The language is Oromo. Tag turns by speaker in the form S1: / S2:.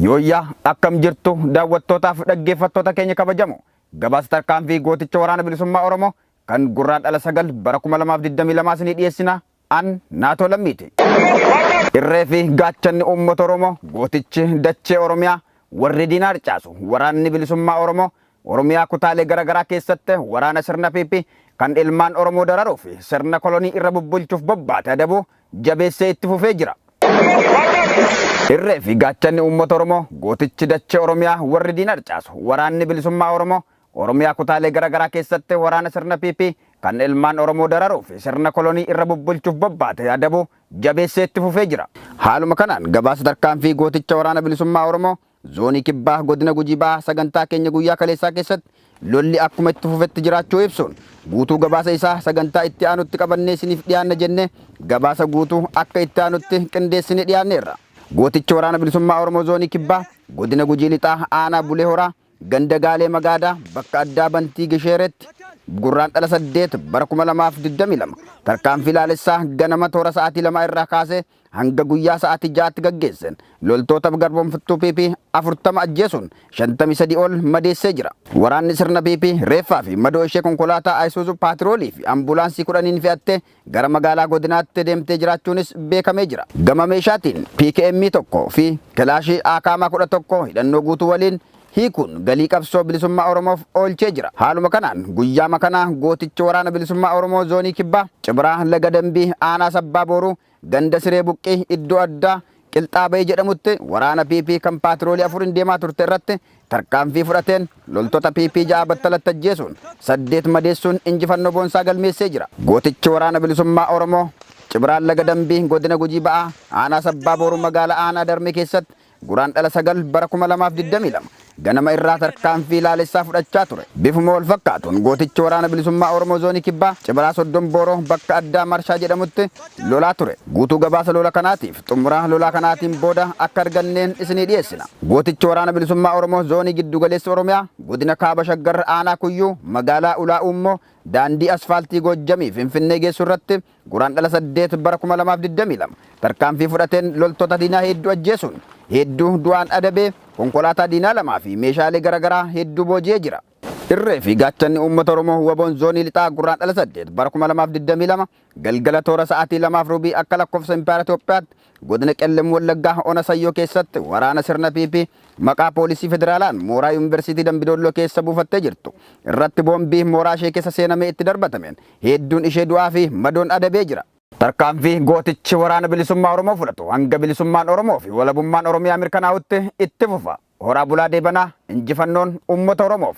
S1: Yooyyaa akkam jirtu daawwattootaaf dhaggeeffattoota keenya kabajamoo gabaasa tarkaanfii gooticha waraana bilisummaa Oromoo kan Gurraandhala 9 bara 2022 isinii dhiyeessina an naatoo lammiiti. Irree fi gaachanni uummata Oromoo gootichi dachee Oromiyaa warri diinaa harcaasu waraanni bilisummaa Oromoo Oromiyaa kutaalee gara garaa keessatti waraana sirna PP kan ilmaan Oromoo dararuu fi sirna kolonii irra bubbulchuuf bobbaate adabuu jabeessee itti fufee jira. Irree fi gaachanni uummata Oromoo gootichi dachee Oromiyaa warri diina harcaasu waraanni bilisummaa Oromoo Oromiyaa kutaalee gara garaa keessatti waraana sirna PP kan ilmaan Oromoo dararuu fi sirna kolonii irra bubbulchuuf bobbaate adabuu jabeessee itti fufee jira. Haaluma kanaan gabaasa tarkaanfii gooticha waraana bilisummaa Oromoo Zoonii Kibbaa Godina Gujii Bahaa sagantaa keenya guyyaa kaleessaa keessatti lolli akkuma itti fufetti jiraachuu ibsuun guutuu gabaasa isaa sagantaa itti aanutti qabannee isiniif dhiyaanna jennee gabaasa guutuu akka itti aanutti qindeessinee dhiyaanneerra. Gootichi Waraana Bilisummaa Oromoo Zoonii Kibbaa Godina Gujii Lixaa Aanaa Bulee Horaa Ganda Gaalee Magaadaa bakka addaa Bantii Gisheereetti Gurraandhala 8 bara 2022 tarkaanfii laalessaa ganama toora sa'aatii 2 irraa kaasee hanga guyyaa sa'aatii 6tti gaggeesseen loltoota garboomfattuu PP 40 ajjeesuun 53 ol madeessee jira. Waraanni sirna PP reeffaa fi madoo ishee konkolaataa Isuzu paatiroolii fi ambulaansii 10n fe'attee gara magaalaa godinaatti deemtee jiraachuunis beekamee jira. Gama meeshaatiin PKM 1 fi kilaashii Akm 11 hidhannoo guutuu waliin hiikuun galii qabsoo bilisummaa Oromoof oolchee jira. Haaluma kanaan guyyaama kana gootichi Waraana Bilisummaa Oromoo Zoonii Kibbaa, Cibraa Laga Dambii, Aanaa Sabbaa Booruu, Ganda Siree Buqqii, iddoo addaa Qilxaa Bayii jedhamutti waraana PP kan paatiroolii afuriin deemaa turte irratti tarkaanfii fudhateen loltoota PP 6 battalatti ajjeesuun 8 madeessuun injifannoo boonsaa galmeessee jira. Gootichi Waraana Bilisummaa Oromoo, Cibraa Laga Dambii, Godina Gujii Ba'aa, Aanaa Sabbaa Booruu Magaalaa Aanaa Darmee keessatti Guraandhala 9 bara 2022 ganama irraa tarkaanfii laalessaa fudhachaa ture. Bifuma wal fakkaatuun gootichi Waraana Bilisummaa Oromoo Zoonii Kibbaa Cibraa Soddon Booroo bakka addaa Marshaa jedhamutti lolaa ture. Guutuu gabaasa lola kanaatiif xumura lolaa kanaatiin booda akka arganneen isinii dhiyeessina. Gootichi Waraana Bilisummaa Oromoo Zoonii Giddu Galeessa Oromiyaa Godina Kaaba Shaggar Aanaa Kuyyuu Magaalaa Ulaa Uummoo daandii asfaaltii Goojjamii Finfinnee geessu irratti Guraandhala 8 bara 2022 tarkaanfii fudhateen loltoota diinaa hedduu ajjeesuun hedduu du'aan adabee, konkolaataa diinaa 2 fi meeshaalee garagaraa hedduu booji'ee jira. Irree fi Gaachanni Uummata Oromoo wbon Zoonii Lixaa Gurraandhala 8 bara 2022 galgala toora sa'aatii 2:00 fi rubii akka lakkoofsa Impaayera Itoophiyaatti Godina Qellem Wallaggaa ona Sayyoo keessatti waraana sirna PP maqaa poolisii federaalaan mooraa Yuunversiitii Dambidoolloo keessa buufattee jirtu irratti boombii mooraa ishee keessa seenamee itti darbatameen hedduun ishee du'aa fi madoon adabee jira. Tarkaanfii gootichi Waraana Bilisummaa Oromoo fudhatu hanga bilisummaan Oromoo fi walabummaan Oromiyaa mirkanaa'utti itti fufa. Horaa bulaa deebanaa! Injifannoon uummata Oromoof!